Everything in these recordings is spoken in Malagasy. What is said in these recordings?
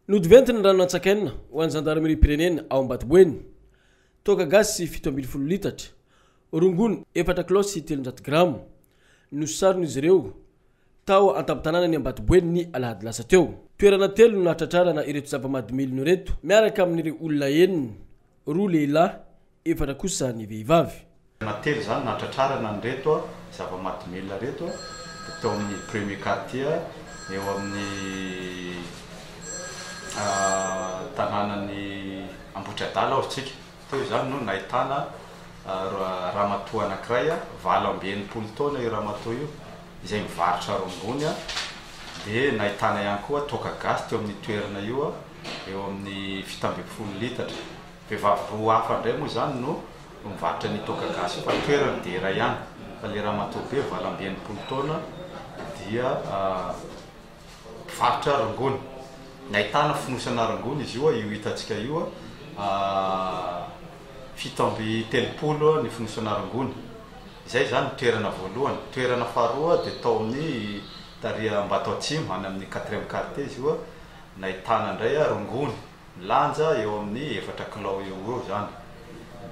Nodventy ny ranon'antsakaina ho an'ny zandarimeriam-pirenena ao Ambatoboeny. Toaka gasy fito ambin'ny folo litatra, rongony efatra kilao sy telonjato grama, no saron'izy ireo tao an-tampon-tanànan'i Ambatoboeny ny alahady lasa teo. Toerana telo no nahatratrarana ireto zava-mahadomelina ireto, miaraka amin'ireo olona enina Roa lehilahy, efatra kosa ny vehivavy. Na telo izany nahatratrarana an'ireto zava-mahadomelina ireto dia tao amin'ny premier quartier eo amin'ny tanànan'i Ambohitriadala hozy tsika. Teo izany no nahitana ramatoa anankiray, valo amby enimpolo taona io ramatoa io, izay mivarotra rongony dia nahitana ihany koa toaka gasy teo amin'io toerana io. eo amin'ny fito ambin'ny folo litatra. Vehivavy roa hafa indray moa izany no mivarotra an'io toaka gasy io fa ny toerany dia iray ihany. Fa ilay ramatoa be valo amby enimpolo taona dia mpivarotra rongony. Nahitana fonosana rongony izy io, io hitantsika io, fito amby telopolo ny fonosana rongony. Izay izany ny toerana voalohany. Toerana faharoa dia tao amin'ny tary Ambatoatsimo, any amin'ny quatrième quartier izy io. Nahitana indray rongony milanja eo amin'ny efatra kilao eo ho eo izany,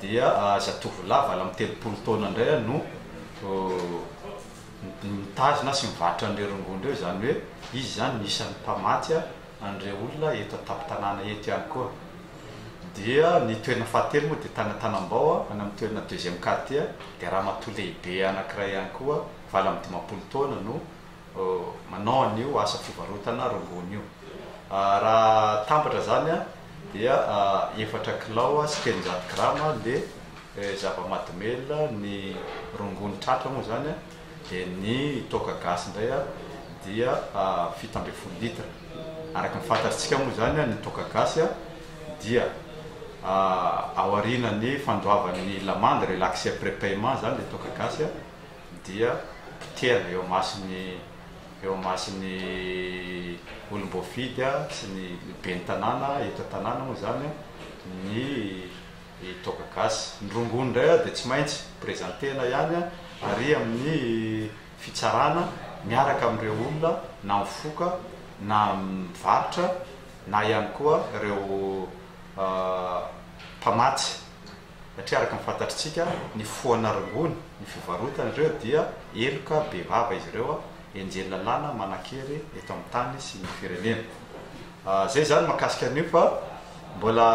dia zatovolahy valo amby telopolo taona indray no mitazona sy mivarotra an'ireo rongony ireo, izany hoe izy izany no isan'ny mpamatsy an'ireo olona eto an-tampon-tanàna eto ihany koa. Dia ny toerana fahatelo moa dia tany Antanambao, any amin'ny toerana deuxième quartier, dia ramatoa lehibe anankiray ihany koa valo amby dimampolo taona no manao an'io asa fivarotana rongony io. Raha tambatra izany dia efatra kilao sy telonjato grama le zava-mahadomelina, ny rongony tratra moa izany, dia ny toaka gasy indray dia fito ambin'ny folo litre. Araka ny fantatritsika moa izany ny toaka gasy dia aorianan'ny fandoavan'ny lamandy, relaxer prepaiement, izany le toaka gasy. dia potehana eo imason'ny eo imason'ny olom-boafidy sy ny ben'ny tanàna eto an-tanàna moa izany ny toaka gasy. Ny rongony indray dia tsy maintsy prezantena ihany ary amin'ny fitsarana miaraka amin'ireo olona na mifoka na mivarotra na ihany koa ireo mpamatsy. satria araka ny fantatritsika ny foana rongony ny fivarotana ireo dia heloka be vava izy ireo enjehiny lalàna manankery eto amin'ny tany sy ny firenena zay zany makasika an'io fa mbola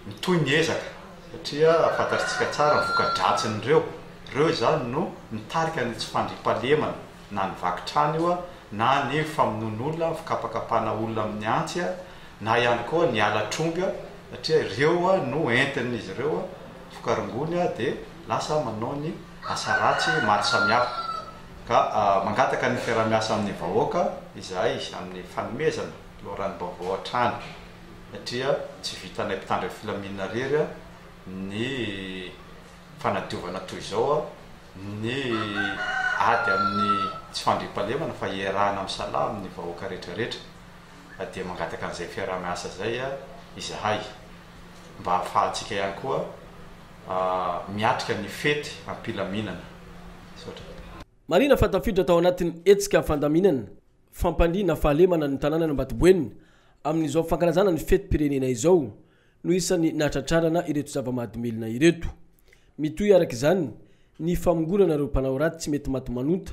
mitohy ny ezaka satria fantatritsika tsara ny voka-dratsin'ireo ireo izany no mitarika ny tsy fandriampahalemana na ny vaky trano io na ny famonoan'olona ny fikapakapana olona amin'ny antsy na ihany koa ny ala tromby satria ireo no entin'izy ireo vokarongony dia lasa manao ny asa ratsy maro samihafa ka mangataka ny fiaraha-miasa amin'ny vahoaka izahay amin'ny fanomezana loharanom-baovao hatrany satria tsy vitanay mpitandro filaminana irery ny fanadiovana toy izao ny ady amin'ny tsy fandriampahalemana fa iarahana misalahy amin'ny vahoaka rehetra rehetra. fa dia mangataka an'izay fiaraha-miasa izay izahay mba hahafahantsika ihany koa miatrika ny fety am-pilaminana. Misaotra. Marihina fa tafiditra tao anatin'ny hetsika fandaminana fampandriana fahalemana ny tanànan'Ambatoboenina amin'izao fankalazana ny fetim-pirenena izao no isan'ny nahatratrarana ireto zava-mahadomelina ireto. Mitohy araka izany ny famongorana ireo mpanao ratsy mety maty manonta